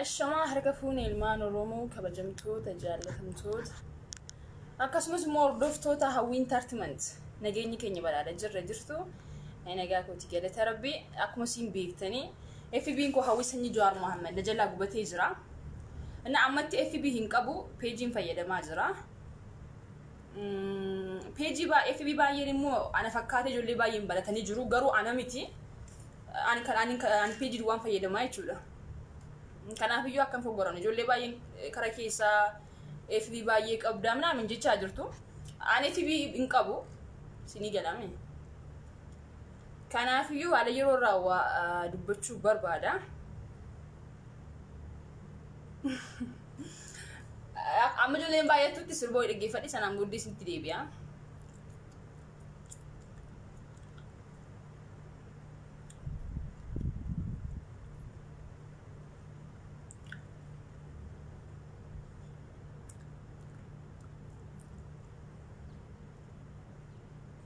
Ashamaa harka fuune ilmaan Oromoo kabajamtoota jaallatamtoota akkasumas immoo hordoftoota hawwiin tartimant nageenyi keenya badhaadha jirra jirtu nagaa kooti galata rabbi akkuma siin beektanii FB'n koo Hawwii Sanyii Jawaar Mohammed na jalaa gubatee jira. Inni ammatti FB hin qabu, peejiin fayyadamaa jira. Peejii FB baay'een immoo ana fakkaatee ijoollee baay'een baratanii jiru, garuu ana miti. Ani kan ani ani peejii duwwaan fayyadamaa jechuudha. Kanaaf iyyuu akkam fogoran ijoollee baay'een kara keessaa FB baay'ee qabdaa minaamin jechaa jirtu. Ani FB hin qabu, sinii galame. Kanaafiyyuu haala yeroo irraa waa ah, dubbachuu barbaada. Amma ijoolleen baay'attutti sirba wayii dhaggeeffadhe sanaan booddee isinitti deebi'a.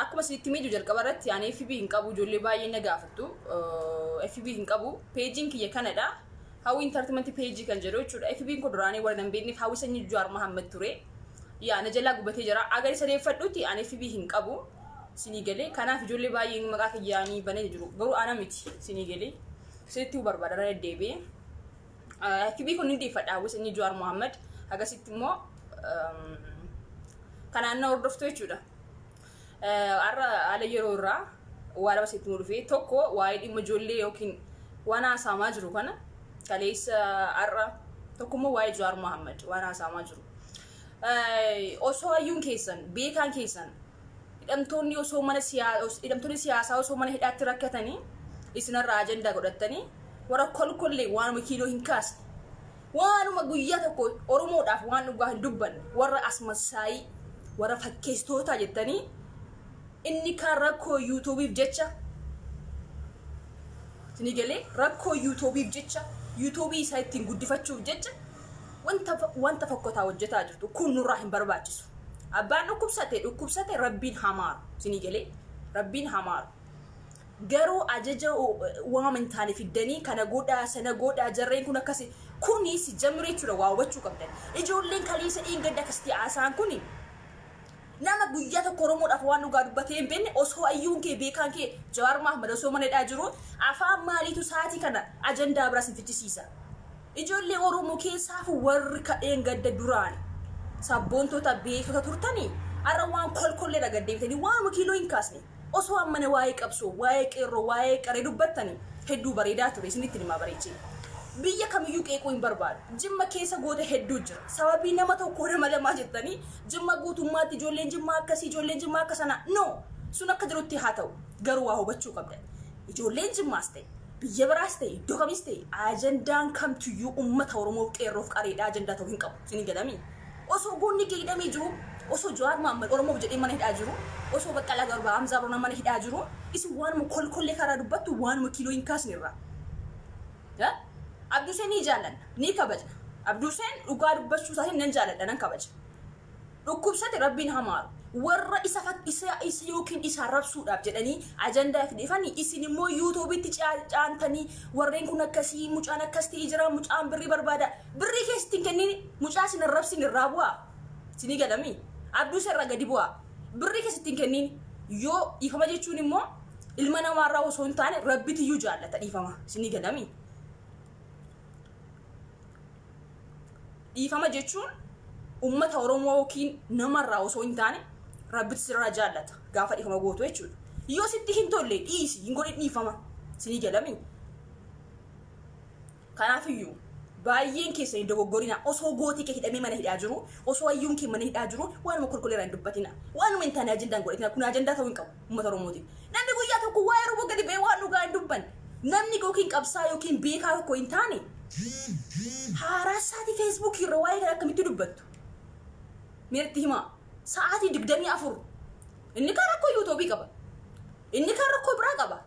Akkuma isinitti miidhu jalqaba irratti ani FB hin qabu ijoollee baay'ee na gaafattu. FB hin qabu peejiin kiyya kanadha. Hawwi intartimanti peejii kan jedhu jechuudha. FB koo duraanii warra hin beekneef hawwi sanyii Jawaar Mahammad ture. Yaa na jalaa gubatee jira. Agar isa deeffadhuuti ani FB hin qabu. Sinii galee kanaaf ijoollee baay'een maqaa kiyyaanii banee jiru. Garuu ana miti sinii galee. Isinitti barbaada irra deddeebi'ee. Kibii kun ni dhiifadha hawwisa inni Jawaar Mohaammed akkasitti immoo kanaan na hordoftu jechuudha. Har'a haala yeroo irraa waa lama sitti dhufee tokko waa'ee dhimma ijoollee yookiin waan haasa'amaa jiru kana kaleessa har'a tokko immoo waa'ee Jawaar Mohaammed waan haasa'amaa jiru. Osoo hayyuun keessan beekaan keessan Hidhamtoonni osoo mana hidhamtoonni siyaasaa osoo mana hidhaatti rakkatanii isinarraa ajandaa godhattanii warra kolkollee waanuma kiiloo hin kaasne waanuma guyyaa tokko oromoodhaaf waan dhugaa hin dubbanne warra asmassaayii warra fakkeessitootaa jettanii inni kaan rakkoo yuutuubiif jecha isinii galee rakkoo yuutuubiif jecha yuutuubii isaa ittiin guddifachuuf jecha wanta wanta fokkotaa hojjetaa jirtu kun nurraa hin barbaachisu abbaan dhukkubsate dhukkubsate rabbiin hamaaru sinii galee rabbiin hamaaru garuu ajaja waama hin taane fiddanii kana godhaa sana godhaa jarreen kun akkasi kuni si jamire jechuudha waa hubachuu qabdan ijoolleen kaleessa dheengadda akkasitti haasaan kuni nama guyyaa tokko oromoodhaaf waan dhugaa dubbatee hin beekne osoo ayyuun kee beekaan kee jawaar maahmad osoo mana hidhaa jiru afaan maaliitu saatii kana ajandaa biraa sin fichisiisa Ijoollee Oromoo keessaafuu warri ka dheengadda duraan sabboontota beektota turtanii har'a waan kolkolleedha gad deebitanii waanuma kiiloo hin kaasne osoo ammana waa'ee qabsoo waa'ee qeerroo waa'ee qaree dubbattanii hedduu bareedaa ture isinitti himaa bareechee. Biyya kamiyyuu qeequu hin barbaadu. Jimma keessa goota hedduu jira. Sababii nama tokkoo nama lamaa jettanii jimma guutummaatti ijoolleen jimmaa akkasii ijoolleen jimmaa akka sanaa no sun akka jirutti haa ta'u garuu waa hubachuu qabdan. Ijoolleen jimmaas ta'e Biyya biraas ta'e iddoo kamis ta'e ajandaan kamtuyyuu ummata Oromoof qeerroof qareedhaa ajandaa ta'u hin qabu. Isin hin galamii? Osoo goonni kee hidhamee jiru, osoo Jawaar Mahammad Oromoof jedhee mana hidhaa jiru, osoo Baqqalaa Garbaa, Hamzaa Barnaa mana hidhaa jiru, isin waanuma kolkollee karaa dubbattu waanuma kiiloo hin kaasne irraa. Abduseen ni jaallanna, ni kabajna. Abduseen dhugaa dubbachuu isaatiin nan jaalladha, nan kabaja. dhukkubsate rabbiin hamaaru warra isa fak isa is yookiin isa rabsuudhaaf jedhanii ajandaa itti dhufanii isin immoo yuutuubitti caantanii warreen kun akkasii mucaan akkas ta'ee jira mucaan birrii barbaada birrii keessa ittiin kenniin mucaa isin arrabsin irraa bu'aa isinii galamii abduu isa irraa gadi bu'aa birrii keessa ittiin kenniin yoo dhiifama jechuun immoo ilma namaarraa osoo hin taane rabbitiyyuu jaallata dhiifama isinii galamii dhiifama jechuun ummata oromoo yookiin namarraa osoo hin taane rabbitu sirraa jaallata gaafa dhiifama gootu jechuudha yoo sitti hin tolle dhiisi hin godhin dhiifama sinii galamii kanaafiyyuu baay'een keessa hin dogoggorina osoo gootii kee hidhamee mana hidhaa jiru osoo hayyuun kee mana hidhaa jiru waanuma kolkoleeraan dubbatina waanuma hin taane ajendaan godhatina kun ajendaa ta'uu hin qabu uummata Oromootiif. Namni guyyaa tokko waa'ee Oromoo gadi ba'ee waan dhugaa hin dubbanne. Namni yookiin qabsaa yookiin beekaa tokko hin taane haaraa isaatii feesbuukii irra waa'ee kana akkamitti dubbattu? Meerti himaa sa'aatii digdamii afur inni kaan rakkoo yuutuubii qaba. Inni kaan rakkoo biraa qaba.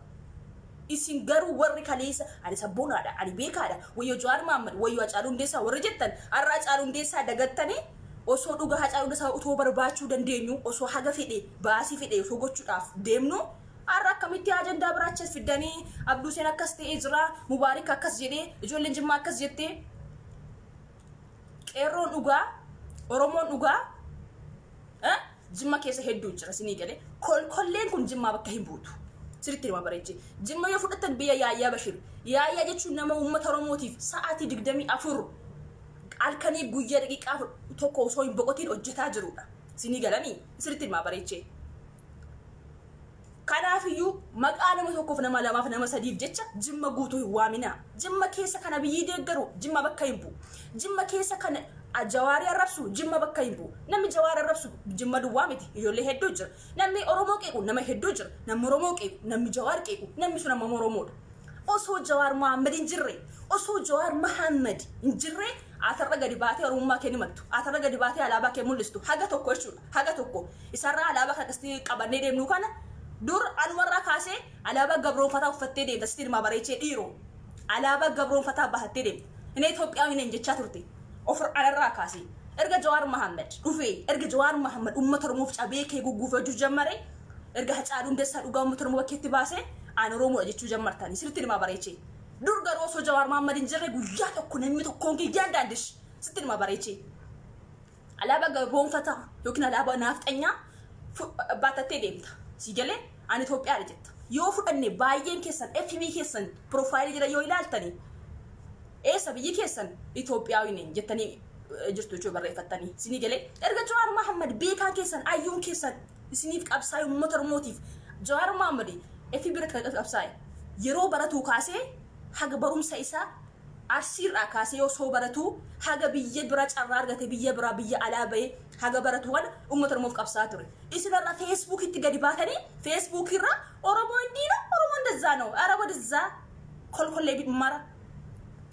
Isin garuu warri kaleessa ani sabboonaadha, ani beekaadha, wayyoo Jawaar Mahammad, wayyoo Hacaaluu Hundeessaa warri jettan har'a Hacaaluu Hundeessaa dagattanii Osoo dhugaa Hacaaluu Dasaa otoo barbaachuu dandeenyuu osoo haga fedhe baasii fedhe osoo gochuudhaaf deemnuu har'a akkamitti ajandaa biraa achi as fiddanii Abduu Huseen akkas ta'ee jira Mubaarik akkas jedhee ijoolleen Jimmaa akkas jettee qeerroon dhugaa Oromoon dhugaa eh? Jimma keessa hedduu jira sinii galee kolkolleen kun jimmaa bakka hin buutu. Siritti hima bareechi. Jimma yoo fudhattan biyya yaayyaa bashir. Yaayyaa jechuun nama uummata Oromootiif sa'aatii 24 halkanii guyyaa daqiiqaa tokko osoo hin boqotiin hojjetaa jirudha. Sinii galanii siritti hima bareechee. Kanaafiyyuu maqaa nama tokkoof, nama lamaaf, nama sadiif jecha Jimma guutuu hin waaminaa. Jimma keessa kan Abiyyii deeggaru Jimma bakka hin bu'u. Jimma keessa kan Jawaarii arrabsu Jimma bakka hin bu'u. Namni Jawaar arrabsu Jimma duwwaa miti. Ijoollee hedduu jira. Namni Oromoo qeequ nama hedduu jira. Namni Oromoo qeequ, namni Jawaar qeequ, namni sun ammam Oromoodha. Osoo Jawaar Mohaammed hin jirre, osoo Jawaar Mohaammed hin jirre, atarra gadi baatee Oromummaa kee ni mattu. Atarra gadi baatee alaabaa kee mul'istu. Haga tokko jechuudha. haga tokko isarraa alaabaa kan akkasitti qabannee deemnu kana dur anumarraa kaasee alaabaa gabroonfataa uffattee deemta sitti ilmaa bareechee dhiiroo alaabaa gabroonfataa bahattee deemta inni Itoophiyaa hin jechaa turte ofir alarraa kaasee erga Jawaar Mahammad dhufee erga Jawaar Mahammad uummata Oromoof cabee kee gugguufachuu jammare erga Hacaaluu Hundeessaa dhugaa uummata Oromoo bakkeetti baasee aan Oromoodha jechuu jammartanii sitti ilmaa bareechee dur garuu osoo Jawaar Mahammad hin jirre guyyaa tokko namni tokkoon kiyyaan daandish sitti ilmaa bareechee Alaabaa gaboonfataa yookiin alaabaa naafxanyaa fu- baatattee deemta. Si galee ani Itoophiyaadha jetta. Yoo fudhanne baay'een keessan FB keessan piroofaayilii jala yoo ilaaltani eessa biyyi keessan Itoophiyaawii neen jettanii eh, jirtu jechuudha barreeffattanii. Isinii galee erga Jawaar Mahammad beekaan keessan ayyuun keessan isiniif qabsaa'e uummata Oromootiif Jawaar Mahammad FB irratti kan qabsaa'e yeroo baratuu kaasee haga barumsa isaa Arsii irraa kaasee yoo soo baratuu haga biyya bira carraa argate biyya biraa biyya alaa bahee haga baratu kana ummata oromoof qabsaa ture isin har'a facebook itti gadi baatanii facebook irra oromoo indii no oromoo indazzaa no ara wadizzaa kolkollee mara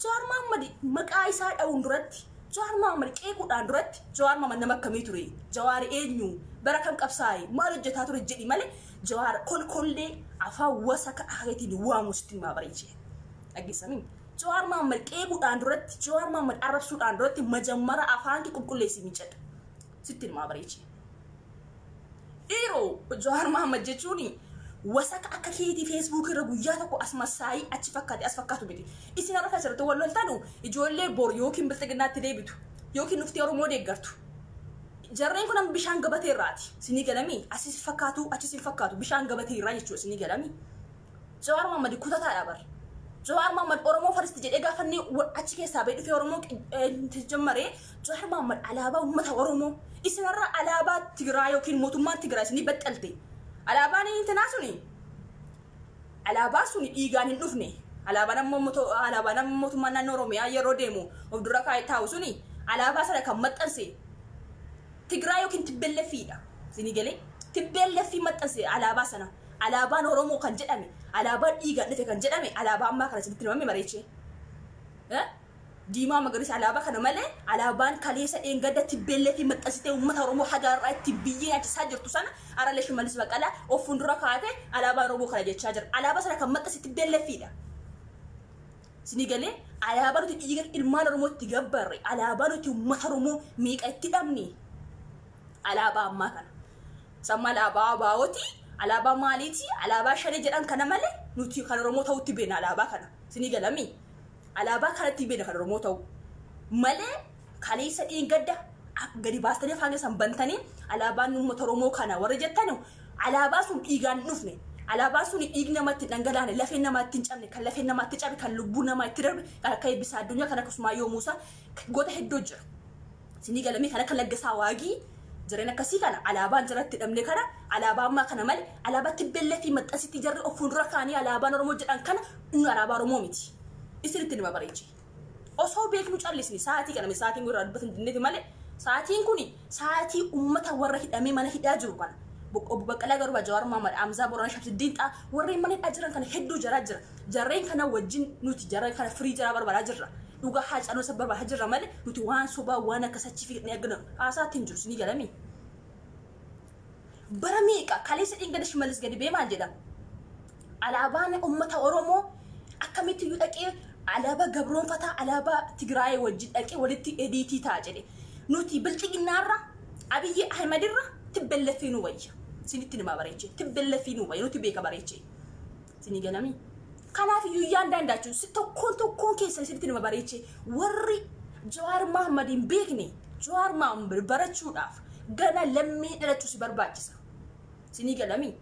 Jawaar Mahaammad maqaa isaa dha'uun duratti Jawaar Mahaammad qeequudhaan duratti Jawaar Mahaammad nama akkamii ture Jawaar eenyu bara kam qabsaa'e maal hojjetaa ture jedhi malee Jawaar kolkollee afaan wasaka akeetiin waamu sitti himaa bareechee. Dhaggeessanii? Jawaar Mohaammed qeequudhaan duratti, Jawaar Mohaammed arrabsuudhaan duratti majammara afaan kee qulqulleessi miiccadha. Sitti ilmaa bareechi. Dhiiroo Jawaar Mohaammed jechuun wasaka akka keetii feesbuukii irra guyyaa tokko as masaayii achi fakkaate as fakkaatu miti. Isin har'a kan asirratti wal loltanu ijoollee bor yookiin bilxiginnaatti deebitu yookiin dhuftii Oromoo deeggartu. Jarreen kun amma bishaan gabatee irraati. Sinii galamii? Asis fakkaatu achis hin fakkaatu. Bishaan gabatee irraa jechuudha sinii galamii? Jawaar Mohammad kutataadha bar. Jawaar Mohammad Oromoo faristi jedhee gaafa inni wa- achi keessaa ba'ee dhufee Oromoo qi- eh, jajjammaree Jawaar Mohammad alaabaa uummata Oromoo isinarra alaabaa Tigiraa yookiin mootummaan Tigiraa isinii baxxalte. Alaabaan intinaa suni alaabaan suni dhiigaan hin dhufne. Alaabaan ammoo moto- alaabaan ammoo mootummaan naannoo Oromiyaa yeroo deemu of dura kaa'ee taa'u suni alaabaa sana kan maxxanse Tigiraa yookiin Tibbellefiidha. Isinii galee Tibbellefii maxxanse alaabaa sana. Alaabaan Oromoo kan jedhame, alaabaan dhiigaan dhufe kan jedhame alaabaa ammaa kana isinitti himame mareechee? Eh? Diimaa magariisa alaabaa kana malee alaabaan kaleessa dheengadda tibbeelleetiin maxxansitee uummata Oromoo haga har'aa ittiin biyyee nyaachisaa jirtu sana aralee Shimallis Baqqalaa of fuuldura kaa'atee alaabaa Oromoo kana jechaa jira. Alaabaa sana kan maxxanse tibbeelleeffiidha. Isinii galee alaabaa nuti dhiiga ilmaan Oromoo itti gabbarre, alaabaa nuti uummata Oromoo meeqa itti dhabne, Alaabaa ammaa kana. Samma alaabaa abaawoti, alaabaa maaliiti, alaabaa shane jedhan kana malee nuti kan Oromoo ta'utti beena alaabaa kana. Isinii galamii? Alaabaa kanatti beena kan Oromoo ta'u. Malee kaleessa dheengadda akka gadi baastanii afaan keessan bantanii alaabaan uummata Oromoo kana warri jettanu alaabaa sun dhiigaan hin dhufne. Alaabaan sun dhiigni namaa ittiin dhangalaane, lafeen namaa ittiin cabne, kan lafeen namaa itti cabe, kan lubbuun namaa itti darbe, kan akka Eebbisaa Addunyaa, kan akka Usmaayyoo Muusaa, goota hedduu jira. Sinii galamee kan akka laggasaa waagii jareen akkasii kana alaabaan jaratti dhabne kana alaabaa ammaa kana male alaabaa tibbellee fi maxxansitti jarri of fuuldura kaanii alaabaan oromoo jedhan kana inni alaabaa oromoo miti isinitti nima bareeche osoo beeknu callisni sa'aatii kana sa'aatiin gurraa dubbatan dinneeti male sa'aatiin kun sa'aatii ummata warra hidhamee mana hidhaa jiru kana obbo Baqqalaa Garbaa Jawaar Mohaammed Amzaa Boorana Shamsiddiin Xaa warreen mana hidhaa jiran kana hedduu jaraa jira Jarreen kana wajjin nuti jarreen kana firii jaraa barbaadaa jirra. Dhugaa Haacaaluu san barbaadaa jirra malee nuti waan sobaa waan akkas achi fiignee argina haasaatti hin jiru isinii galamii. Bara meeqa kaleessa dhingada shimallis gadi bee maal jedha? Alaabaan uummata Oromoo akkamitti iyyuu dhaqee alaabaa gabroonfataa alaabaa Tigraayee wajjin dhaqee walitti ediitii ta'a jedhe. Nuti bilxiginnaarra Abiyyi Ahimadirra tibbelleffii nu wayya. Isinitti nima bareechee tibbelleffii nu wayya nuti beeka bareechee. Isin galami. Kanaaf iyyuu yaan daandaachu si tokkoon tokkoon keessan isinitti nama bareeche warri Jawaar Mahaammad hin beekne Jawaar Mahaammad barachuudhaaf gana lammii dhalachuu si barbaachisa. Isinii galami.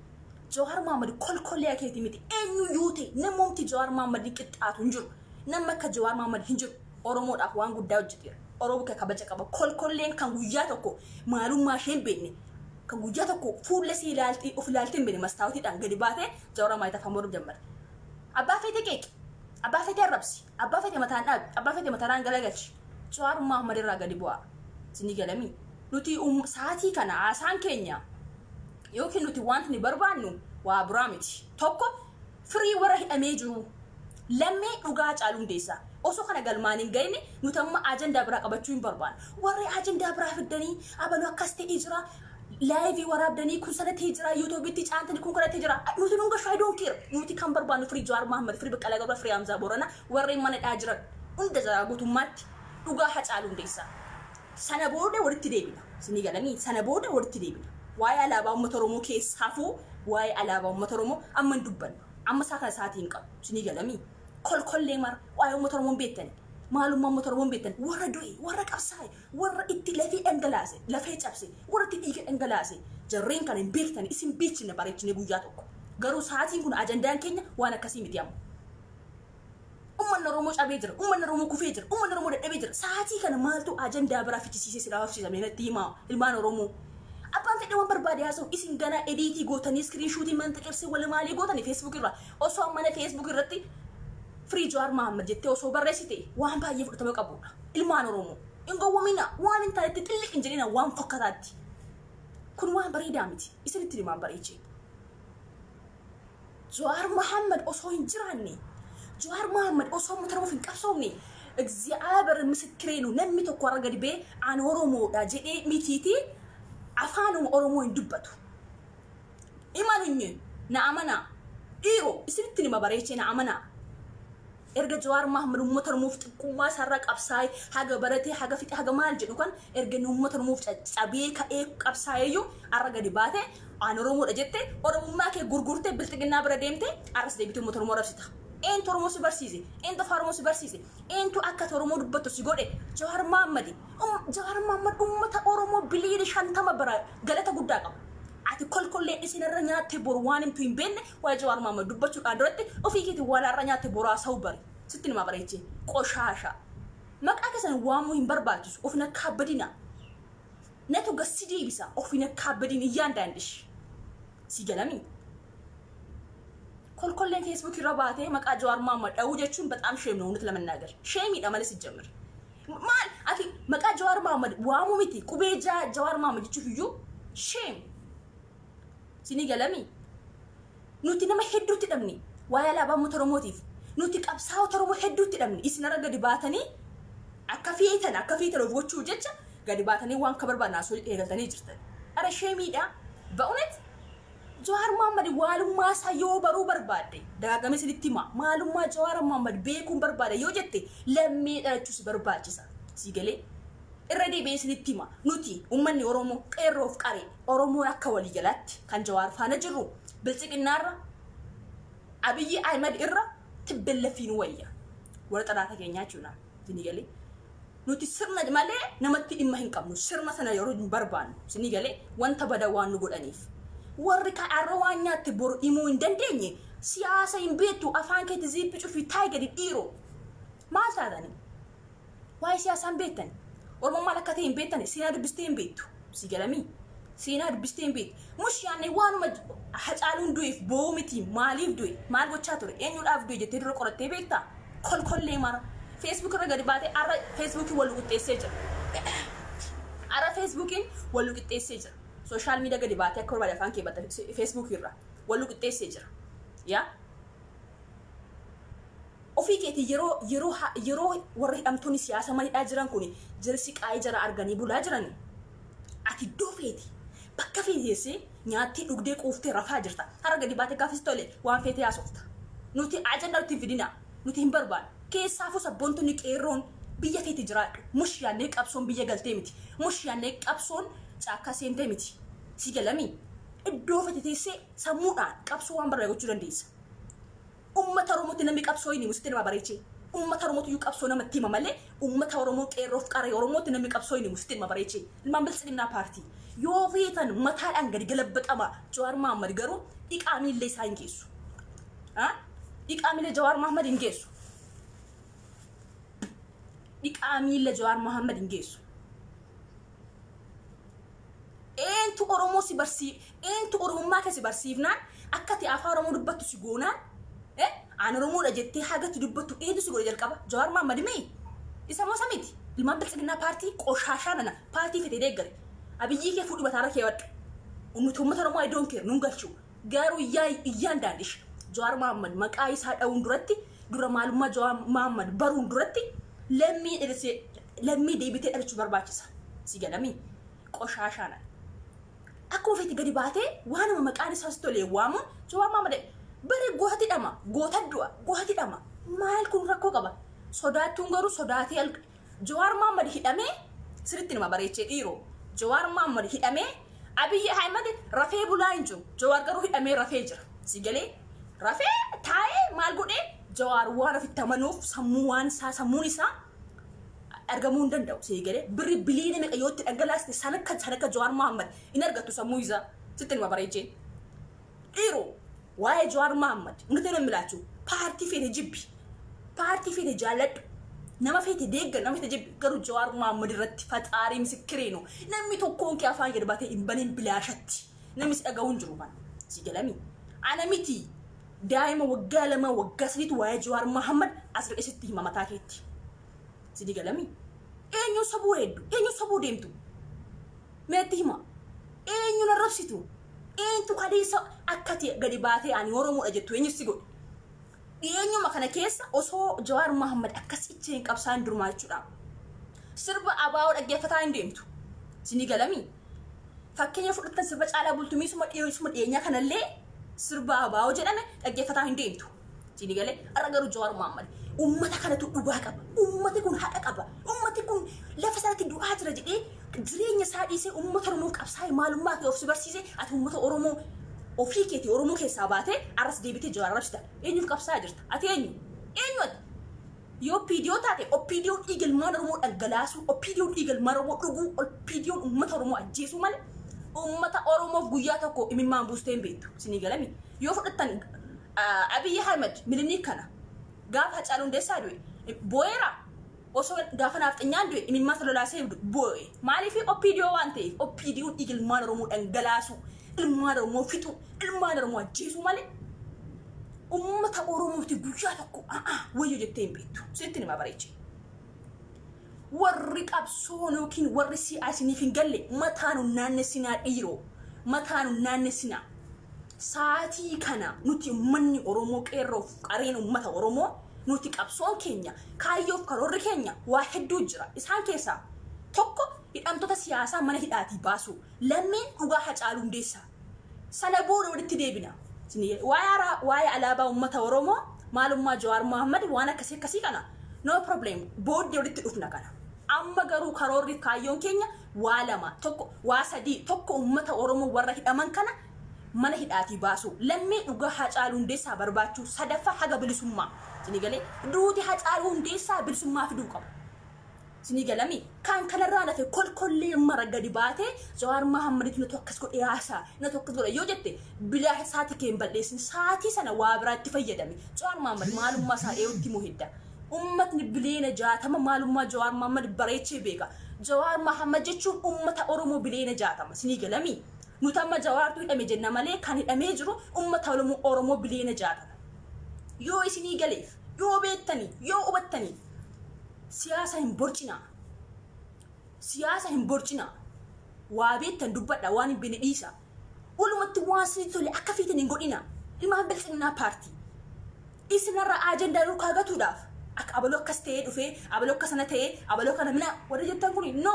Jawaar Mahaammad kolkolliyaa keetii miti eenyu yoo ta'e namoomti Jawaar Mahaammad hin qixxaatu hin jiru. Namni akka Jawaar Mahaammad hin jiru. Oromoodhaaf waan guddaa hojjeteera. Oromoo kee kabaja qaba. Kolkolleen kan guyyaa tokko maalummaa ishee hin beekne Ka guyyaa tokko fuulla sii ilaalti of ilaalti hin beekne mastaawutiidhaan gadi baate jawara maayitaa afaan boruuf jammarte. Abbaa feete qeeqi. Abbaa feete arrabsi. Abbaa feete mataan dhaabi. Abbaa feete mataraan galagalchi. Jawaar Muhammad irraa gadi bu'aa. Isinii galamii. Nuti um- sa'aatii kana haasaan keenya yookiin nuti wanti ni barbaannu waa biraa miti. Tokko Firii warra hidhamee jiruu. Lammii dhugaa Hacaaluu Hundeessaa. Osoo kana galmaan hin ga'inne nuti amma ajandaa biraa qabachuu hin barbaannu. Warri ajandaa biraa fiddanii abaluu akkas ta'ee jira. Laayivii waraabdanii kun sana ta'ee jira. Yuutuubitti caantanii kun kana ta'ee jira. Nuti nu gashu I don't care. Nuti kan barbaannu firii Jawaar Mahammad, firii Baqqalaa Garbaa, firii Hamzaa Booranaa warreen mana hidhaa jiran hunda jara guutummaatti dhugaa Hacaaluu Hundeessaa. Sana booda walitti deebina. Isinii galanii? Sana booda walitti deebina. Waa'ee alaabaa uummata Oromoo keessa hafuu waa'ee alaabaa uummata Oromoo amma hin dubbannu. Amma isaa kana sa'aatii hin qabu. Isinii galamii? Kolkollee mara waa'ee uummata Oromoo hin beektanii? Maalummaa uummata Oromoo hin beektanii? Warra du'e, warra qabsaa'e, warra itti lafee dhangalaase, lafee cabse, warra itti dhiiga dhangalaase jarreen kana hin beektanii? Isin beeksifna bareechinee guyyaa tokko. Garuu sa'aatiin kun ajandaan keenya waan akkasii miti amma. Ummanni Oromoo cabee jira. Ummanni Oromoo kufee jira. Ummanni Oromoo dadhabee jira. Sa'aatii kana maaltu ajandaa biraa fichisiisee si dhaabsiisa mee natti himaa ilmaan Oromoo. Abbaan fedhe waan barbaade haasa'u isin ganaa ediitii gootanii iskiriin shuutii manta qeebsee wala maalii gootanii feesbuuk irraa osoo ammana feesbuuk irratti firii Jawaar Mahaammad jettee osoo barreessite waan baay'ee fudhatama qabudha. Ilmaan Oromoo hin gowwomina waan hin taanetti xilliq hin jedhina waan fokkataatti. Kun waan bareedaa miti isinitti himaan bareechee. Jawaar Muhammad osoo hin jiraanne, Jawaar Muhammad osoo uummata Oromoof hin qabsoofne, Egziyaaber misikkireenu namni tokko warra gadi ba'ee ani Oromoodha jedhee mitiiti afaanuma Oromoo hin dubbatu. Imanunyee na amanaa dhiiroo isinitti nima bareechee na amanaa. Erga Jawaar Mahaammad uummata Oromoof xiqqummaa isaarraa qabsaa'ee haga baratee haga fixe haga maal jedhu kan erga inni uummata Oromoof caccabee ka'ee qabsaa'eeyyuu har'a gadi baatee aan Oromoodha jettee Oromummaa kee gurgurtee bilxiginnaa bira deemtee har'as deebitee uummata Oromoo arrabsita. Eentu Oromoo si barsiise? Eentu afaan Oromoo si barsiise? Eentu akka ati Oromoo dubbattu si godhe? Jawaar Mahaammadi. Jawaar Mahaammad uummata Oromoo biliyoona shantama biraa galata guddaa qaba. Ati kolkollee dhisi narra nyaattee boru waan himtu hin beekne waa'ee Jawaar Mohaammed dubbachuudhaa duratti ofii keetiin waa narra nyaatte boru haasa'uu bari. Sitti himaa bareechee. Qoshaasha. Maqaa keessan waamuu hin barbaachisu. Of hin akkaabbadina. Natu gas si deebisa. Of hin akkaabbadin iyyaan daandish. Si galamii. Kolkolleen Facebook irra baatee maqaa Jawaar Mohaammed dha'uu jechuun bataam sheem na uunat lamannaagir. Sheemiidha malee sijjamir. Maal ati maqaa Jawaar Mohammed waamuu miti qubee jaa Jawaar Mohammed jechuuf iyyuu shame. Sinii galamii. Nuti nama hedduutti dhabne waa'ee alaabaa uummata Oromootiif. Nuti qabsaa'ota Oromoo hedduutti dhabne isinarra gadi baatanii akka feetan akka feetan of gochuuf jecha gadi baatanii waan akka barbaadan haasoo eegaltanii jirtan. Ara sheemiidha. Ba'unet Jawaar Mohammad waalummaa isaa yoo baruu barbaadde dagaagamee sinitti hima maalummaa Jawaar Mohammad beekuun barbaada yoo jette lammee dhalachuu si barbaachisa sii galee irra deebi'ee sinitti hima nuti ummanni Oromoo qeerroof qaree Oromoon akka waliigalaatti kan Jawaar faana jirru bilxiqinnaarra Abiyyi Ahimad irra tibbellaffiin wayya warra xalaata keenyaa jechuudha sini galee Nuti sirna malee namatti dhimma hin qabnu. Sirna sana yeroo hin barbaannu. Isinii galee? Wanta badaa waan nu godhaniif. Warri kan arra waan nyaatte boru himuu hin dandeenye siyaasa hin beektu afaan keetti ziippi cufii taa'i gadi dhiiro. Maal taatani? Waa'ee siyaasaa hin beektani. Oromoon maal akka ta'e hin beektani. Seenaa dubbistee hin beektu. si galamii seenaa dubbistee hin beektu mush yaanne waanuma hacaaluun du'eef boo'uu miti maaliif du'e maal gochaa ture eenyuudhaaf du'e jettee dura qorattee beektaa kolkollee mara feesbuuk irra gadi baatee arra feesbuukiin wal qixxeessee jira arra feesbuukiin wal qixxeessee jira sooshaal miidiyaa gadi baatee akka barbaade afaan kee batta feesbuukii irraa wal qixxeessee jira yaa Ofii keetii yeroo yeroo ha yeroo warri hidhamtoonni siyaasaa mana hidhaa jiran kuni jara siqaayee jaraa arganii bulaa jirani ati iddoo feete bakka feete teessee nyaattee dhugdee quuftee rafaa jirta. Har'a gadi baatee gaafa si tole waan feetee haasofta. Nuti ajandaa nutti hin fidinaa. Nuti hin barbaannu. Keessaafuu sabboontonni qeerroon biyya feete jiraadhu. Mush yaannee qabsoon biyya galtee miti. Mush yaannee qabsoon caakkaa seentee miti. Si galamii? Iddoo feete teessee sammuudhaan qabsoo waan barbaade gochuu dandeessa. Ummata Oromotti namni qabsoo hin himu sitti nama bareechee. Ummata Oromootiyyuu qabsoo namatti hima malee ummata Oromoo qeerroof qarree Oromootti namni qabsoo hin himu sitti nama bareechee. Ilmaan Biltsiginnaa Paartii. Yoo feetan mataadhaan gadi galabbaxamaa. Jawaar Mahaammad garuu dhiqaa miillee isaa hin geessu. Haa? Dhiqaa miillee Jawaar Mahaammad hin geessu. Dhiqaa miillee Jawaar Mahaammad hin geessu. Eentu Oromoo si barsii eentu Oromummaa kee si barsiifnaan akka ati afaan Oromoo dubbattu si goonaan eh aan Oromoodha jettee hagatti dubbattu eentu si godhe jalqaba Jawaar Mahammad mii isa moo isa miti ilmaan bilxiginnaa paartii qoshaashaa nana paartii fetee deeggare abiyyii kee fuudhi mataarra keewwadhu ummata ummata Oromoo I don't care nuun galchuu Garuu yaa iyyaan daandish Jawaar Mohammed maqaa isaa dha'uun duratti dura maalummaa Jawaar Mohammed baruun duratti lammii dhalchee lammii deebitee dhalchuu barbaachisa. Si galamii qoshaashaana. Akkuma feete gadi baatee waanuma maqaan isaa si tolee waamuun Jawaar Mohammed bare gooti dhama goota du'a gooti dhama maal kun rakkoo qaba sodaattuun garuu sodaatee Jawaar Mohammed hidhamee siritti numa bareechee dhiiroo. Jawaar Mohammed hidhamee Abiyyi Ahmed rafee bulaa hin jiru. Jawaar garuu hidhamee rafee jira. Si galee rafee taa'ee maal godhee Jawaar waan ofitti amanuuf sammuu waan isaa sammuun isaa argamuu hin danda'u. Si galee birri biliyoona meeqa yoo itti dhangalaaste san akka san akka Jawaar Mohammed hin argattu sammuu isaa sitti numa bareechee. Dhiiru waa'ee Jawaar Mahaammad hundatti nan milaachu paartii feete jibbi paartii feete jaalladhu nama feete deeggar nama feete jibbi garuu Jawaar Mahaammad irratti faxaarii misikkiriinu namni tokkoon kee afaan gad baatee hin baniin bilaashatti namni si dhaga'uu hin jiru kan si galami ana miti daa'ima waggaa lama waggaa sadiitu waa'ee Jawaar Mahaammad as ba'ee sitti hima mataa keetti si galami eenyu sobuu hedduu eenyu sobuu deemtu Meetti hima. Eenyuun arrabsitu? Eenyutu kadeessa akkati gadi baatee ani Oromoodha jettu eenyu si godhe? Dhiyeenyuma kana keessa osoo Jawaar Mahammad akkas itti hin qabsaan durmaa jechuudha. Sirba abaa'oo dhaggeeffataa hin deemtu. Sini galami. Fakkeenya fudhattan sirba caalaa bultumiisuma dhiyeessuma dhiyeenyaa kanallee sirba abaa'oo jedhame dhaggeeffataa hin deemtu. Sini galee har'a garuu Jawaar Mohaammed uummata kanatu dhugaa qaba. Uummati kun haqa qaba. Uummati kun lafa isaatti du'aa jira jedhee jireenya isaa dhiisee uummata Oromoof qabsaa'ee maalummaa kee of si barsiisee ati uummata Oromoo ofii keetii Oromoo keessaa baatee arras deebitee Jawaar arrabsita. Eenyuuf qabsaa'aa jirta? Ati eenyu? Eenyu ati? Yoo PDO taate OPDO dhiiga ilmaan Oromoo dhangalaasuu, OPDO dhiiga ilmaan Oromoo dhuguu, OPDO uummata Oromoo ajjeesuu malee uummata Oromoof guyyaa tokko imimmaan buustee hin beektu. Sinii galami. Yoo fudhattan Abiy Ahmed Miliniik kana gaafa Hacaaluu Hundeessaa du'e boo'eera? Osoo gaafa naafxanyaan du'e imimmaansa lolaasee boo'e. Maaliif OPDO waan ta'eef OPDOn dhiiga ilmaan Oromoo dhangalaasuu, ilmaan Oromoo fixuu, ilmaan Oromoo ajjeesuu malee uummata Oromootti guyyaa tokko a'aa wayyo jettee hin beektu. Sittin hima bareechee. Warri qabsoo yookiin warri si'aa isiniif hin galle mataa nun naannessinaa dhiiroo. Mataa nun naannessinaa. Sa'aatii kana nuti ummanni Oromoo qeerroof qareen ummata Oromoo nuti qabsoon keenya kaayyoof karoorri keenya waa hedduu jira. Isaan keessaa tokko hidhamtoota siyaasaa mana hidhaatii baasuu. Lammeen dhugaa Hacaaluu Hundeessaa. Sana booda walitti deebina. Waa'ee ara- waa'ee alaabaa uummata Oromoo maalummaa Jawaar Mohaammed waan akkasii akkasii kana no problem booddee walitti dhufna kana. Amma garuu karoorri fi kaayyoon keenya waa lama tokko waa sadii tokko uummata Oromoo warra hidhaman kana mana hidhaatii baasuu lammee dhugaa Hacaaluu Hundeessaa barbaachuu sadaffaa haga bilisummaa. Isinii galee duuti Hacaaluu Hundeessaa bilisummaa fiduu qaba. Isinii galamii? Kan kanarraa lafe kolkollee mara gadi baatee Jawaar Mahaammaditti natu akkas godhe haasaa, natu akkas godhe yoo jette bilaa saati kee hin bal'eessin. Saatii sana waa biraatti fayyadami. Jawaar Mahaammad maalummaa isaa eeyutti immoo hedda. Ummatni biliyeena jaatama maalummaa Jawaar Mahaammad bareechee beeka. Jawaar Mahaammad jechuun ummata Oromoo biliyeena jaatama. Isinii galamii? Nuti amma Jawaartu hidhame jenna malee kan hidhamee jiru ummata Oromoo biliyeena jaatama. Yoo isinii galeef. Yoo beektanii, yoo hubattanii siyaasa hin borcinaa. Siyaasa hin borcinaa. Waa beektan dubbadha, waan hin beekne dhiisa. Walumatti waan isinitti tole akka feetan hin godhina. Ilmaan bilxiginnaa paartii. Isinarraa ajandaa yoo kaagatuudhaaf akka abaloo akkas ta'ee dhufee, abaloo akka sana ta'ee, abaloo kana mina warri jettan kuni no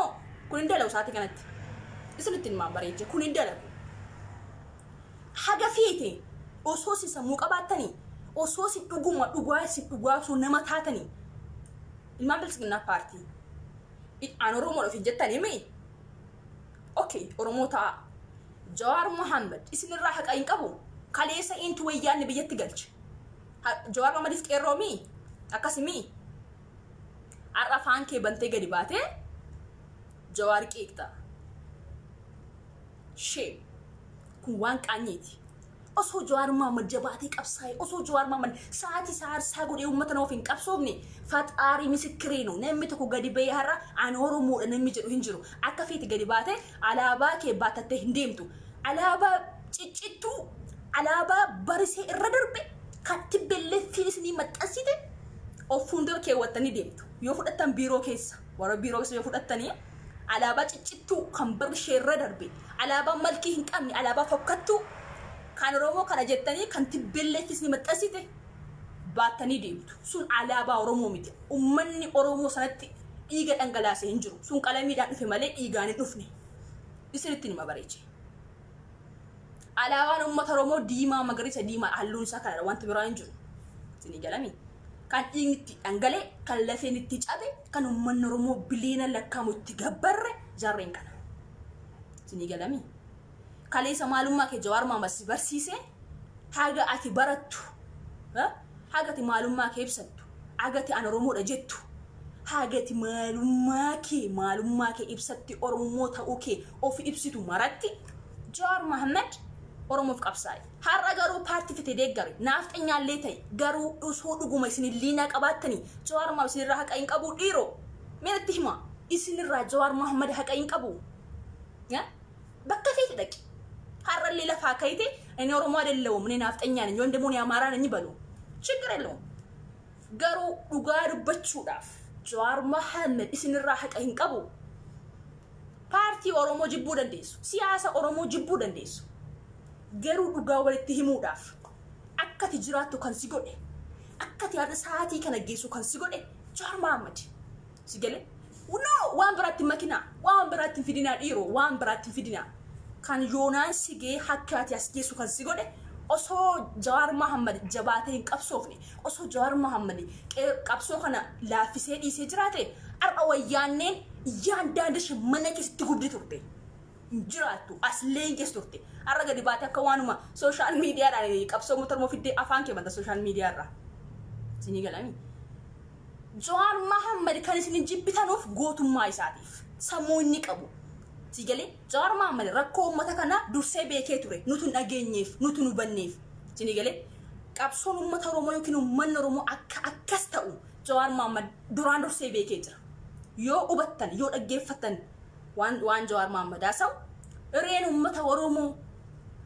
kun hin dalagu sa'aatii kanatti. Isinitti himaa bareecha kun hin dalagu. Haga feete osoo isin sammuu qabaattanii, osoo isin dhuguma dhugaa isin dhugaa osoo nama taatanii, ilmaan Biltsiginnaa Paartii, i, an Oromoodha ofiin jettanii mii? Ok, Oromoo ta'aa. Jawaar Mohaammed isin irraa haqa hin qabu? Kaleessa eentu wayyaanne biyyatti galche? Ha- Jawaar Mohammediif qeerroo mii? Akkasi mii? Har'a afaan kee bantee gadi baatee Jawaar qeeqxa. Shame. Kun waan qaanyiiti. Osoo Jawaar Mohaammed jabaatee qabsaa'e, osoo Jawaar Mohaammed sa'aatii isaa aarsaa godhee uummata nama of hin qabsoofne, faxaarii misikkiriinu namni tokko gadi ba'ee har'a ani Oromoodha namni jedhu hin jiru. Akka feete gadi baatee alaabaa kee baatattee hin deemtu. Alaabaa ciccittuu, alaabaa barisee irra darbe kan tibbelleettiin isinii maxxansite of fuuldura keewwattanii deemtu. Yoo fudhattan biiroo keessa, warra biiroo keessa yoo fudhattanii alaabaa ciccittuu kan barri isheerra darbe alaabaa malkii hin qabne alaabaa fokkattuu kan Oromoo kana jettanii kan tibbelleeffis ni maxxansite baattanii deemtu. Sun alaabaa Oromoo miti. Ummanni Oromoo sanatti dhiiga dhangalaase hin jiru. Sun qalamiidhaan dhufe malee dhiigaan hin dhufne. Isinitti nima bareeche. Alaabaan uummata Oromoo diimaa magariisa diimaa halluun isaa kanadha wanti biraa hin jiru. Isinii galami. Kan dhiigni itti dhangale, kan lafeen itti cabe, kan uummanni Oromoo biliyoona lakkaa'amu itti gabbarre jarreen kana. Isinii galami. Kaleessa maalummaa kee Jawaar Maamad si barsiisee haga ati barattu Haga ati maalummaa kee ibsattu, haga ati an Oromoodha jettu, haga ati maalummaa kee maalummaa kee ibsatti Oromoo ta'uu kee of ibsitu maratti Jawaar Mohammed Oromoof qabsaa'e. Har'a garuu paartii fete deeggari, naafxanyaallee ta'e garuu osoo dhuguma isin illiinaa qabaattanii Jawaar Mohammed isinirraa haqa hin qabuu dhiiroo? Mee natti himaa isinirraa Jawaar Mohammed haqa hin qabuu? bakka feete dhaqi har'allee lafaa kayite inni oromoo adallawum inni naafxanyaan inni wanda muuni amaaraan inni balu ችግር የለውም garuu dhugaa dubbachuudhaaf jawaar mahammed isinirraa haqa hin qabu paartii oromoo jibbuu dandeessu siyaasa oromoo jibbuu dandeessu garuu dhugaa walitti himuudhaaf akkati jiraattu kan si godhe akkati har'a sa'aatii kana geessu kan si godhe jawaar mahammed Si galee? No, waan biraatti hin makinaa. Waan biraatti hin fidinaa dhiiroo. Waan biraatti hin fidinaa. Kan yoonaan si gee hakka ati as geessu kan si godhe osoo Jawaar Mahammad jabaatee hin qabsoofne osoo Jawaar Mahammad qee- qabsoo kana laaffisee dhiisee jiraate har'a wayyaanneen yaan daandishe mana keessatti gubdi turte. hin jiraattu as leences turte har'a gadi baate akka waanuma sooshaal miidiyaadhaan qabsoo uummata Oromoo fiddee afaan kee banta sooshaal miidiyaarraa isinii galanii Jawaar Mahammad kan isin hin jibbitanuuf gootummaa isaatiif sammuu inni qabu si galee Jawaar Mahammad rakkoo uummata kana dursee beekee ture nutu hin dhageenyeef nutu hin hubanneef isinii galee qabsoon uummata Oromoo yookiin uummanni Oromoo akka akkas ta'u Jawaar Mahammad duraan dursee beekee jira yoo hubattan yoo dhaggeeffattan waan waan Jawaar Mohaammed haasa'u irreen uummata Oromoo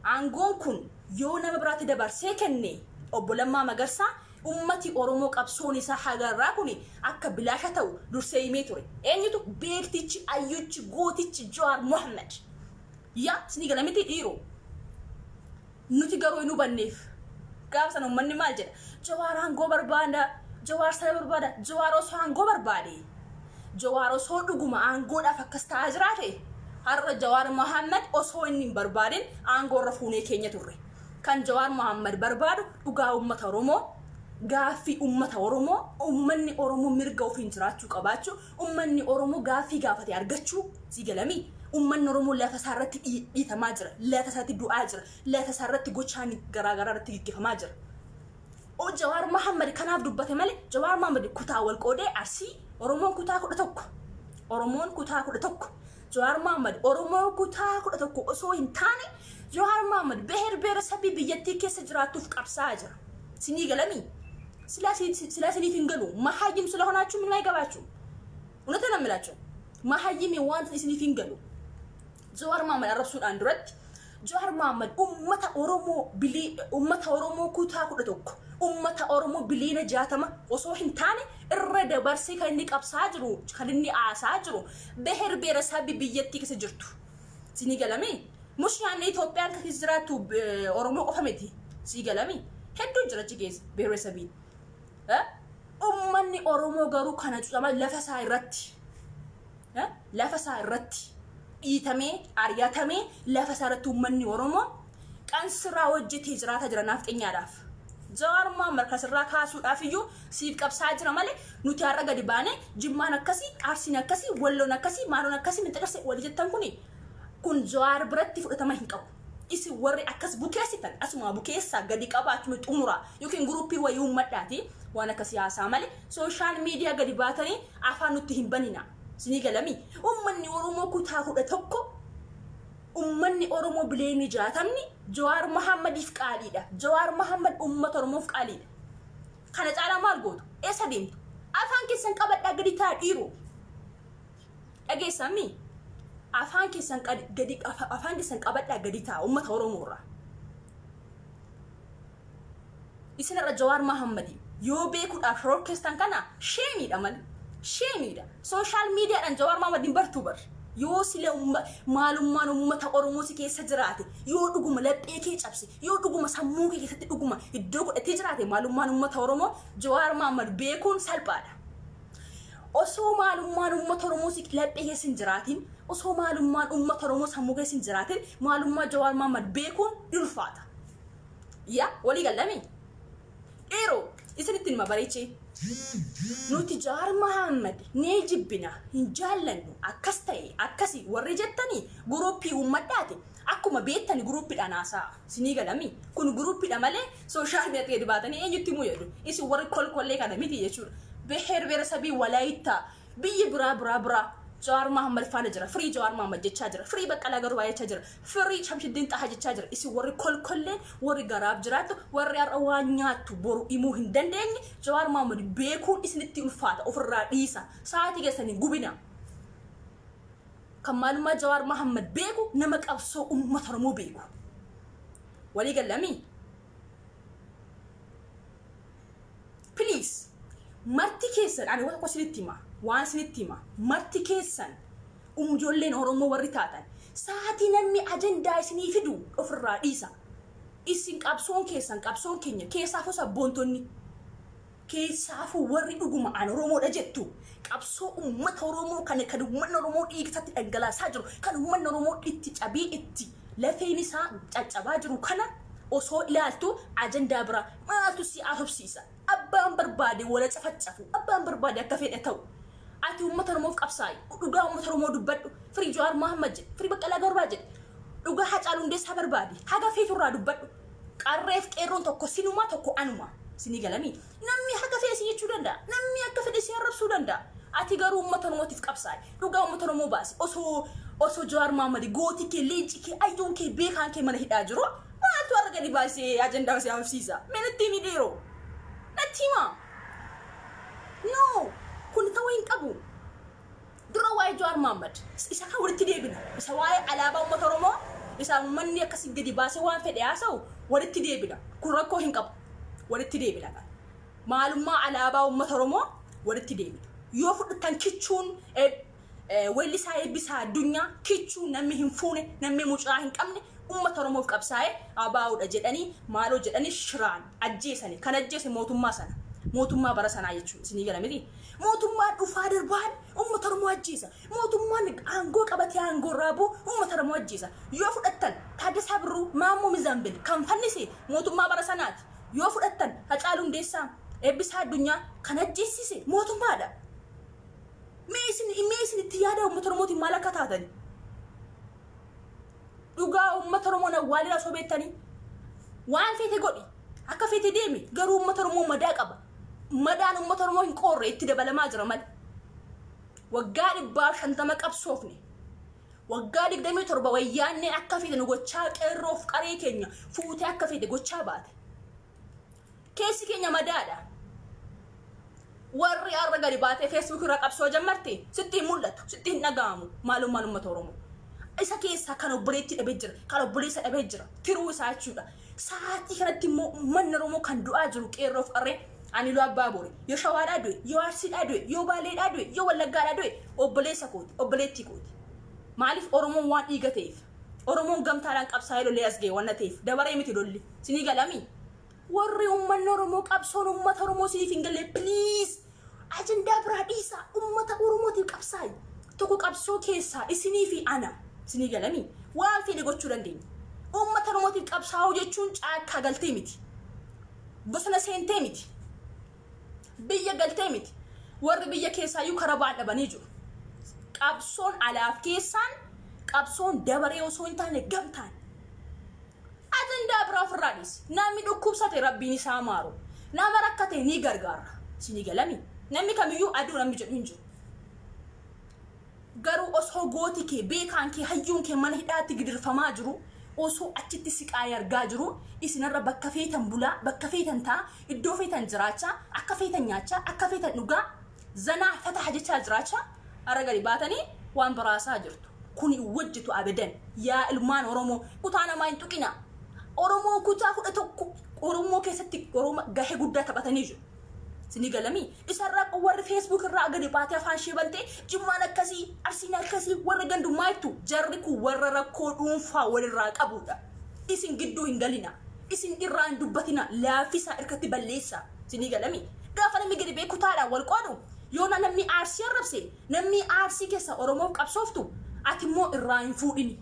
aangoon kun yoo nama biraatti dabarsee kenne obbo Lammaa Magarsaa uummati Oromoo qabsoon isaa hagarraa kun akka bilaasha ta'u dursee himee ture. Eenyutu beektichi ayyuchi gootichi Jawaar Mohaammed. Yaa isinii galamitti dhiiroo. Nuti garuu hin hubanneef. Gaafa sana ummanni maal jedha? Jawaar aangoo barbaada, Jawaar sana barbaada, Jawaar osoo aangoo barbaade. Jawaar osoo dhuguma aangoodhaaf akkas ta'aa jiraate har'a Jawaar Mohaammed osoo inni hin barbaadin aangoo irra fuunee keenya turre. Kan Jawaar Mohaammed barbaadu dhugaa uummata Oromoo, gaaffii uummata Oromoo, uummanni Oromoo mirga ofiin jiraachuu qabaachuu, Ummanni Oromoo gaaffii gaafate argachuu sii galamii? Ummanni Oromoo lafa isaa irratti dhiitamaa jira, lafa isaatti du'aa jira, lafa isaa irratti gochaan garaa garaa irratti gaggeeffamaa jira. O Jawaar Mahammad kanaaf dubbate malee Jawaar Mahammad kutaa wal qoodee Arsii Oromoon kutaa kudha tokko Oromoon kutaa kudha tokko Jawaar Mohaammed Oromoo kutaa 11 osoo hin taane Jawaar Mohaammed beher beera sabbii biyyattii keessa jiraattuuf qabsaa'aa jira. Sinii galamii? Silaa si- si- silaa siniif hin galu. Mahayyim sila honaachuu minaa egabaachuu. Unata na milaachuu. Mahayyimi waan isiniif hin galu. Jawaar Mohaammed arrabsuudhaan duratti Jawaar Mohammad ummata Oromoo bilii ummata Oromoo kutaa 11 ummata Oromoo biliina 60 osoo hin taane irra dabarsee kan inni qabsaa jiru kan inni aasaa jiru beher beera sabbi biyyattii keessa jirtu sinii galame mush yaanne Itoophiyaan kan keessa jiraattu Oromoo qofa miti sii galame hedduu jira achi keessa beera sabii ummanni Oromoo garuu kana cuudhama lafa isaa irratti lafa isaa irratti dhiitamee ari'atamee lafa isaa irratti uummanni Oromoo kan sirraa hojjetee jiraataa jira naafxenyaadhaaf. Jawaar Mohaammed kan sirraa kaasuudhaaf iyyuu siif qabsaa jira malee nuti har'a gadi baanee jimmaan akkasii, arsiin akkasii, walloon akkasii, maaloon akkasii minxaqarsa wali jettan kuni kun Jawaar biratti fudhatama hin qabu. Isin warri akkas bukeessitan asuma bukeessaa gadi qabaa achuma xumuraa yookiin guruppii wayii uummadhaati waan akkasii haasaa malee sooshaal miidiyaa gadi baatanii Afaan nutti hin banina. Sinii galami? Ummanni Oromoo kutaa kudha tokko ummanni Oromoo bileemii jaatamni Jawaar Mahaammadiif qaaliidha. Jawaar Mahaammad uummata Oromoof qaaliidha. Kana caalaa maal gootu? Eessa deemtu? Afaan keessan qabadhaa gadi taa dhiiru. Dhageessaan mii? Afaan keessan gadi afaan keessan qabadhaa gadi taa uummata Oromoo irraa. Isin har'a Jawaar Mahammadi yoo beekuudhaaf shororkeestan kana sheemiidha malee. Sheemiidha. Sooshaal miidiyaadhaan Jawaar Mahammad hin bartuu bar. Yoo sila umma, maalummaan ummata Oromoo si keessa jiraate, yoo dhuguma laphee kee cabse, yoo dhuguma sammuu kee keessatti dhuguma iddoo godhatee jiraate maalummaan ummata Oromoo Jawaar Mahammad beekuun salphaadha. Osoo maalummaan uummata Oromoo si laphee keessa hin jiraatin, osoo maalummaan uummata Oromoo sammuu keessa hin jiraatin, maalummaa Jawaar Mohammad beekuun ni ulfaata. Ya, walii gallamii? Dhiiroo, isinitti nima bareechee. Nuti Jawaar Mohammad ni jibbina, hin jaallannu, akkas ta'e, akkasi warri jettanii guruuppii uummadhaati. Akkuma beettani guruuppiidhaan haasa'a. Sinii galamii? Kun guruuppiidha malee Social media gadi baatanii eenyutti himuu yaadu? Isin warri kolkollee kana miti jechuudha. Beheer beerasabii walaayittaa biyyi biraa biraa biraa Jawaar Mahammad faana jira. Firii Jawaar Mahammad jechaa jira. Firii Baqqalaa Garbaa jechaa jira. Firii Shamshiddiin Xahaa jechaa jira. Isin warri kolkolleen warri garaaf jiraattu warri har'a waan nyaattu boru himuu hin dandeenye Jawaar Mahammad beekuun isinitti ulfaata ofirraa dhiisa. Sa'aatii keessan hin gubina. Kan maalummaa Jawaar Mahammad beeku nama qabsoo uummata Oromoo beeku. walii gallamii please marti keessan ani waan tokko isinitti hima waan isinitti hima marti keessan umjoolleen oromoo warri taatan sa'aatii namni ajandaa isinii fidu ofirraa dhiisa isin qabsoon keessan qabsoon keenya keessaa fosa boontonni Keessaafuu warri dhuguma an Oromoodha jettu qabsoo ummata Oromoo kana kan ummanni Oromoo dhiiga isaatti dhangalaasaa jiru, kan ummanni Oromoo itti cabee itti lafeen isaa caccabaa jiru kana osoo ilaaltu ajandaa biraa maaltu si haasofsiisa? Abbaan barbaade wal haa cafacafuu, abbaan barbaade akka fedhe ta'u. Ati ummata Oromoof qabsaa'i, dhugaa ummata Oromoo dubbadhu, firii Jawaar Mohammad jedhi, firii Baqqalaa Garbaa jedhi, dhugaa Hacaaluu Hundeessaa barbaadi, haga feetu irraa dubbadhu. Qarreef qeerroon tokko sinumaa tokko anumaa. Isinii galami? Namni haga fedhe si jechuu danda'a. Namni akka fedhe si arrabsuu danda'a. Ati garuu uummata Oromootiif qabsaa'i. Dhugaa uummata Oromoo baasi. Osoo osoo Jawaar Mahaammadi gootii kee, leenci kee, ayyuun kee, beekaan kee mana hidhaa jiru maaltu har'a gadi baasee ajandaa si haafsiisa? Mee natti himi dhiiroo. Natti himaa. No! Kun ta'uu hin qabu. Dura waa'ee Jawaar Mohammed isa kan walitti deebina. Isa waa'ee alaabaa uummata Oromoo isa uummanni akkasii gadi baasee waan fedhe haasa'u walitti deebina. Kun rakkoo hin qabu. Walitti deebina kan. Maalummaa alaabaa uummata Oromoo walitti deebina. Yoo fudhattan kichuun weellisaa eebbisaa addunyaa kichuu namni hin fuune namni mucaa hin qabne Uummata Oromoof qabsaa'e ABO dha jedhanii maaloo jedhanii shiraan ajjeesani. Kan ajjeese mootummaa sana. Mootummaa bara sanaa jechuudha. Isinii gala miti? Mootummaan dhufaa darbaan uummata Oromoo ajjeesa. Mootummaan aangoo qabatee aangoo irraa bu'u uummata Oromoo ajjeesa. Yoo fudhattan Taaddasaa Birruu, Maammoo Mizaanbil kan fannise mootummaa bara sanaati. Yoo fudhattan Hacaaluu Hundeessaa, Eebbisaa Addunyaa kan ajjeessise mootummaadha. Mee isin mee isin itti yaadaa uummata Oromootiin maal akka taatani? Dhugaa uummata Oromoo na waalira osoo beektanii waan feete godhi akka feete deemi garuu uummata Oromoo madaa qaba. Madaan uummata Oromoo hin qoorre itti dabalamaa jira malee. Waggaa dhibbaa fi shantama qabsoofne. Waggaa digdamii torba wayyaanneen akka feete nu gochaa qeerroof qaree keenya fuutee akka feete gochaa baate. keessi keenya madaadha warri arra gadi baatee feesbuuk irra qabsoo jammarte sitti hin mul'atu sitti hin dhaga'amu maalummaan uummata oromoo isa keessaa kan obboleetti dhabee jira kan obboleessa dhabee jira tiruu isaa jechuudha sa'aatii kanatti immoo uummanni oromoo kan du'aa jiru qeerroof qarree ani loo abbaa boore yoo shawaadhaa du'e yoo arsiidhaa du'e yoo baaleedhaa du'e yoo wallaggaadhaa du'e obboleessa kooti obboleettii kooti maaliif oromoon waan dhiiga ta'eef Oromoon gamtaadhaan qabsaa'ee lolee as ga'e wanna ta'eef dabaree miti lolli. Sinii galamii? Warri uummanni Oromoo qabsoon uummata Oromoo siniif hin galle please ajandaa biraa dhiisaa uummata Oromootiif qabsaa'i. Tokko qabsoo keessaa isinii fi ana sinii galamii? Waan feene gochuu dandeenya. Uummata Oromootiif qabsaa'uu jechuun caakkaa galtee miti. Bosona seentee miti. Biyya galtee miti. Warri biyya keessaayyuu karaa ba'an dhabanii jiru. Qabsoon alaaf keessaan qabsoon dabaree osoo hin taane gamtaan. Ajandaa biraa ofirraa dhiisi. Namni dhukkubsate rabbiin isaa maaru. Nama rakkate ni gargaarra. Isinii galami. Namni kamiyyuu aduu namni jedhu hin jiru. Garuu osoo gooti kee, beekaan kee, hayyuun kee mana hidhaatti gidirfamaa jiruu, osoo achitti siqaayii argaa jiruu, isin har'a bakka feetan bulaa, bakka feetan taa'aa, iddoo feetan jiraachaa, akka feetan nyaachaa, akka feetan dhugaa, zanaa fataha jechaa jiraachaa, har'a gadi baatanii waan biraa haasa'aa jirtu. Kun hin wajjitu abadan. Yaa ilmaan Oromoo, kutaa namaa hin tuqinaa. Oromoon kutaa 11 Oromoo keessatti Oromoo gahee guddaa taphatanii jiru. Isinii galamii isarraa qo- warri feesbuuk irraa gadi baatee afaan ishee bantee jimmaan akkasii arsiin akkasii warra gandummaa jettu jarri kun warra rakkoo dhuunfaa walirraa qabuudha. Isin gidduu hin galina. Isin irraa hin dubbatina. Laaffisaa irkatti balleessa. Isinii galamii gaafa namni gadi bee kutaadhaan wal qoodu yoona namni aarsii arrabse Namnii Arsii kessa Oromoof qabsooftu ati immoo irraa hin fuudhini.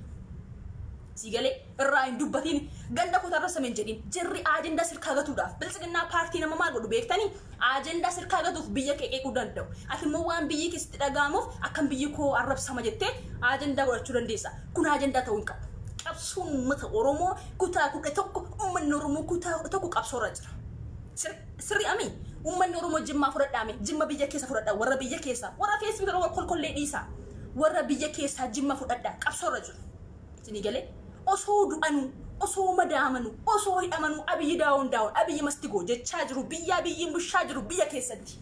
Sii galee? Irraa hin dubbatini. Ganda koo tarressa men jedhin. Jirri ajendaa sirkaa gatuudhaaf. Biltsiginnaa paartii nama maal godhu beektani? Ajendaa sirkaa gatuuf biyya kee qeequu danda'u. Ati immoo waan biyyi kee sitti dhaga'amuuf akkam biyyi koo arrabsama jettee ajendaa godhachuu dandeessa. Kun ajendaa ta'uu hin qabu. Qabsoon uummata Oromoo kutaa 11 uummanni Oromoo kutaa 11 qabsoorra jira. Sirka. Sirri amii? Ummanni Oromoo Jimmaa fudhadhaa mee. Jimma biyya keessa fudhadhaa. Warra biyya keessaa. Warra Facebook irra wal kolkollee dhiisaa. Warra biyya keessaa Jimma fudhadhaa. Qabsoo irra jiru. Isinii galee? Osoo du'anuu, osoo madaamanuu, osoo hidhamanuu Abiyyi daawon daawon, Abiyyi must go jechaa jiru. Biyya Abiyyiin bushaa jiru biyya keessatti.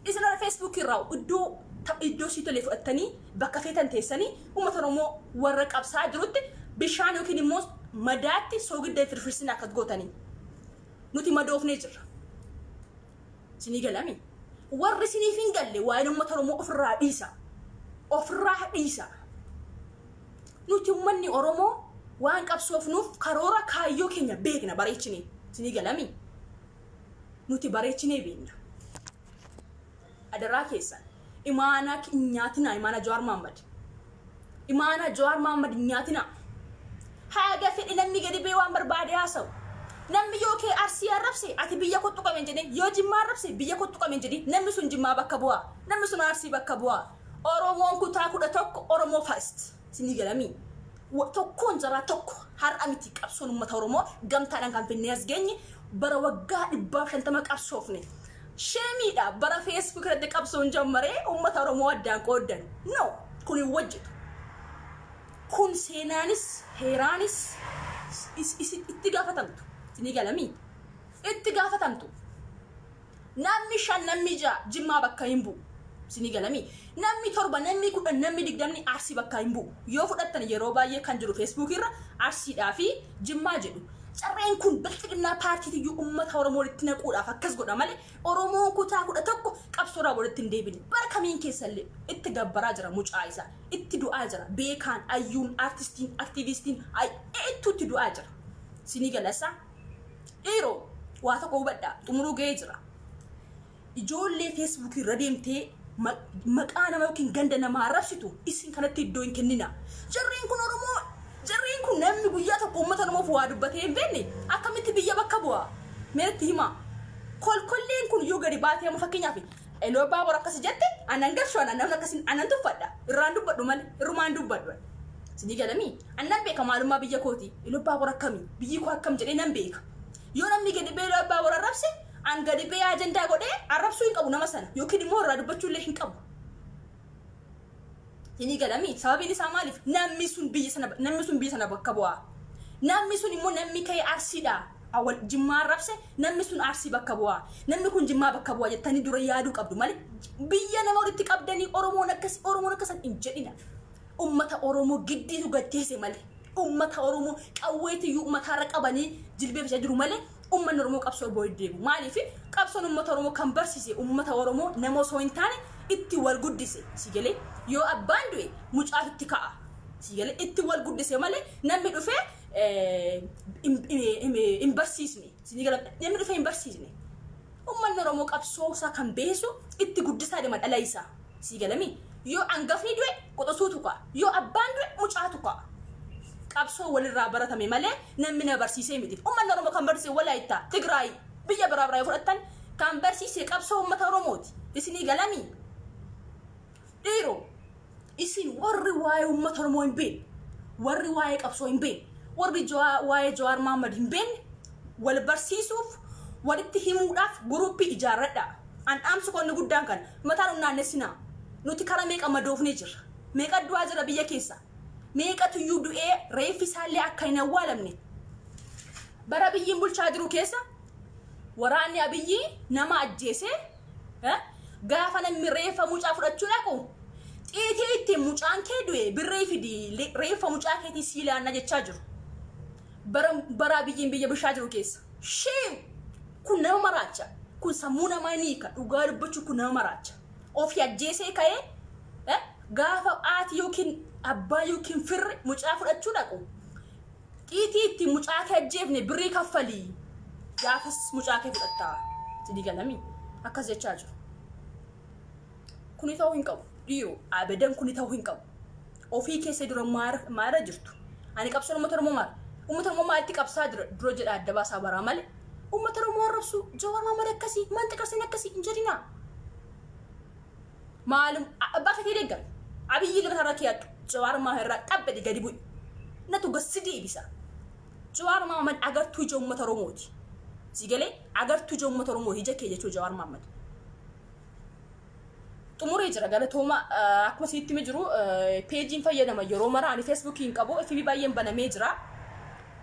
Isin irra Facebook irraa iddoo ta- iddoo sii tolee fudhattanii bakka feetan teessanii uummata Oromoo warra qabsaa jirutti bishaan yookiin immoo madaatti soogidda hin firfirsin akkas gootanii. Nuti madoofnee jirra. Isinii galami. Warri isiniif hin galle waa'een uummata Oromoo ofirraa dhiisa. Ofirraa dhiisa. Nuti uummanni Oromoo waan qabsoofnuuf karoora kaayyoo keenya beekna bareechinee. Isinii galami. Nuti bareechinee beekna. Adaraa keessan imaanaa ki- hin nyaatinaa imaanaa Jawaar Maammad. Imaanaa Jawaar Maammad hin nyaatinaa. Haaga fedhe namni gadi bee waan barbaade haasawu. Namni yoo kee arsii arrabse ati biyya kottu qaben jedhee yoo jimmaa arrabse biyya kottu qaben jedhee namni sun jimmaa bakka bu'aa. Namni sun arsii bakka bu'aa. Oromoon kutaa kudha tokko Oromoo first. Isinii galamii? Wa- Tokkoon jaraa tokko har'a miti qabsoon uummata Oromoo gamtaadhaan kan finnee as geenye bara waggaa dhibbaaf shantama qabsoofne. Sheemiidha bara Facebook irratti qabsoon jammaree uummata Oromoo addaan qooddan. No, kun hin wajjitu. Kun seenaanis heeraanis is- is- itti gaafatamtu. Isinii galamii? Itti gaafatamtu. Namni shan namni ja'a jimmaa bakka hin bu'u. Isinii galami. Namni torba namni kudhan namni digdamni arsii bakka hin bu'u. Yoo fudhattan yeroo baay'ee kan jiru feesbuukii irra arsiidhaa fi jimmaa jedhu. Carreen kun bilxiginnaa paartiitiyyuu ummata Oromoo walitti naquudhaaf akkas godha malee Oromoon kutaa kudha tokko qabsoorraa walitti hin deebine. Bara kamiin keessa illee itti gabbaraa jira mucaa isaa. Itti du'aa jira. Beekaan, ayyuun, artistiin, aktiiviistiin, ay, eettuu itti du'aa jira. Isinii gala isaa? Dhiiroo waa tokko hubadhaa xumuruu ga'ee jira. Ijoollee Facebook irra deemtee ma- maqaa nama yookiin ganda namaa arrabsitu isin kanatti iddoo hin kennina. Jarreen kun Oromoo jarreen kun namni guyyaa tokko uummata Oromoof waa dubbatee hin beekne akkamitti biyya bakka bu'a? Meetti himaa. Kolkolleen kun yoo gadi baatee amma fakkeenyaaf Eloo baabur akkasi jette anan garshu anan namni akkasi anan tuffadha irraan dubbadhu male irrumaan dubbadhu ani. Sinii galamii annan beeka maalummaa biyya kooti eloo baabur akkami biyyi koo akkam jedhee nan beeka. Yoo namni gadi bee eloo baabur arrabse an gadi bee ajandaa godhee arrabsuu hin qabu nama sana yookiin immoo irraa dubbachuu illee hin qabu. Inii galamii sababiin isaa maaliif namni sun biyya sana namni sun biyya sana bakka bu'aa. Namni sun immoo namni ka'ee arsiidha. Awwal jimmaa arrabse namni sun arsii bakka bu'aa. Namni kun jimmaa bakka bu'aa jettanii dura yaaduu qabdu malee biyya nama walitti qabdanii Oromoon akkas Oromoon akkasan hin jedhina. Ummata Oromoo giddiitu gad teesse malee. Ummata Oromoo qawweetiyyuu ummataarra qabanii jilbeeffachaa jiru malee ummanni Oromoo qabsoo wbo hin deemu. Maaliif qabsoon ummata Oromoo kan barsiise ummata Oromoo nama osoo hin taane itti wal guddise. Si galee yoo abbaan du'e mucaatu itti ka'a. Si galee itti wal guddise malee namni dhufee eh, hin- hin hin barsiisne. Si galee namni dhufee hin barsiisne. Ummanni Oromoo qabsoo isaa kan beesu itti guddisaa deema dhala isaa. Sii galamii? Yoo angafni du'e quxusuutu ka'a. Yoo abbaan du'e mucaatu ka'a. Qabsoo walirraa baratame malee namni na barsiisee miti. Ummanni Oromoo kan barsiise Walaayittaa, Tigraay, biyya biraa biraa yoo fudhattan kan barsiise qabsoo ummata Oromooti. Isinii galamii? Dhiiro, isin warri waa'ee ummata Oromoo hin beekne, warri waa'ee qabsoo hin beekne, warri Jawaa- waa'ee Jawaar Mahaammad hin beekne, Wal barsiisuuf, walitti himuudhaaf guruuppii ijaarradhaa. An dhaamsi koo inni guddaan kana. Mataa nun naannessinaa. Nuti kara meeqa madoofnee jirra. Meeqa du'aa jirra biyya keessa. Meeqatuyyuu du'ee reeffi isaallee akka hin awwaalamne. Bara Abiyyiin bulchaa jiru keessa waraanni Abiyyii nama ajjeesee eh, gaafa namni reeffa mucaa fudhachuu dhaqu xiitii ittiin mucaan kee du'e birrii fidii li- reeffa mucaa keetii sii laanna jechaa jiru. Bara baraa biyyiin biyya bushaa jiru keessa. Shame! Kun nama maraacha. Kun sammuu namaa ni hiika. Dhugaa dubbachuu kun nama maraacha. Ofii ajjeesee ka'ee eh, gaafa haati yookiin abbaa yookiin firri mucaa fudhachuu dhaqu. Xiitii ittiin mucaa kee ajjeefne birrii kaffalii. Gaafas mucaa kee fudhattaa. Sidii galamii. Akkas jechaa jiru. Kuni ta'uu hin qabu. Dhiiroo abadan kuni ta'uu hin qabu. Ofii keessa dura maara maara jirtu. Ani qabsoon uummata Oromoo maara. Uummata Oromoo maalitti qabsaa dura dura jedha adda baasaa baraa malee. Uummata Oromoo arrabsuu Jawaar Maamad akkasii maanta qarsiin akkasii hin jedhinaa. Maalum abbaa keetii deeggar. Abiyyi ilma irraa kiyaadhu. Jawaar Maamad irraa dhabbadi gadi bu'i. Natu gassi deebisa. Jawaar Mohammad agartuu ija uummata Oromooti. Si galee agartuu ija uummata Oromooti ija kee jechuu Jawaar Mohammad. Xumuree jira galatooma akkuma isinitti hime jiru peejiin fayyadama yeroo mara ani feesbuukii hin qabu FB baay'een banamee jira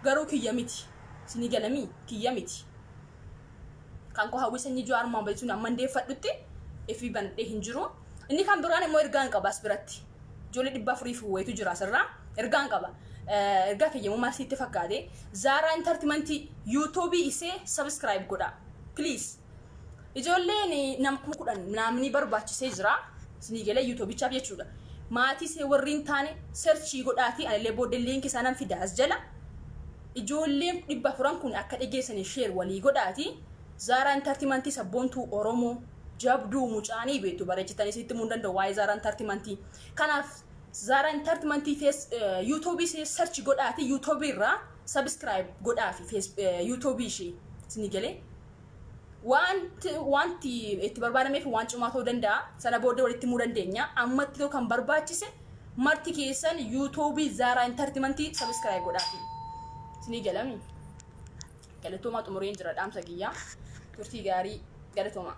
garuu kiyya miti isinii galamii kiyya miti. Kan koo hawwii sanyii Jawaar Mohammad jechuun amma hundeeffadhutti FB banadhee hin jiru. Inni kan biraan immoo ergaan qaba as biratti. ijoollee dhibba afurii fi wayitu jira asirraa ergaan qaba Eh, ergaa kiyyamu maal sitti fakkaate zaaraa intartimantii yuutuubii isee sabiskiraayib godha please ijoolleen nam kuma kudhan naamni barbaachisee jira isinii galee yuutuubichaaf jechuudha maatii see warri hin taane serchii godhaatii anillee booddee liinkii isaa nan fida as jala ijoolleen dhibba afuran kun akka dhageessanii sheer walii godhaati zaaraa intartimantii sabboontuu oromoo Jabduu mucaa ni beektu bareechitanii isinitti himuu hin danda'u waa'ee Zaaraa Intartimantii. Kanaaf Zaaraa Intartimantii fees yuutuubii ishee search godhaati yuutuubii irraa sabiskiraayib godhaafi fees yuutuubii ishee isinii galee. Wanti wanti itti barbaadameef waan cimaa ta'uu danda'a sana booddee walitti himuu dandeenya ammatti ta'u kan barbaachise marti keessan yuutuubii Zaaraa Intartimantii sabiskiraayib godhaafi isinii galami. Galatoomaa xumureen jira dhaamsa kiyya. Turtii gaarii. Galatoomaa.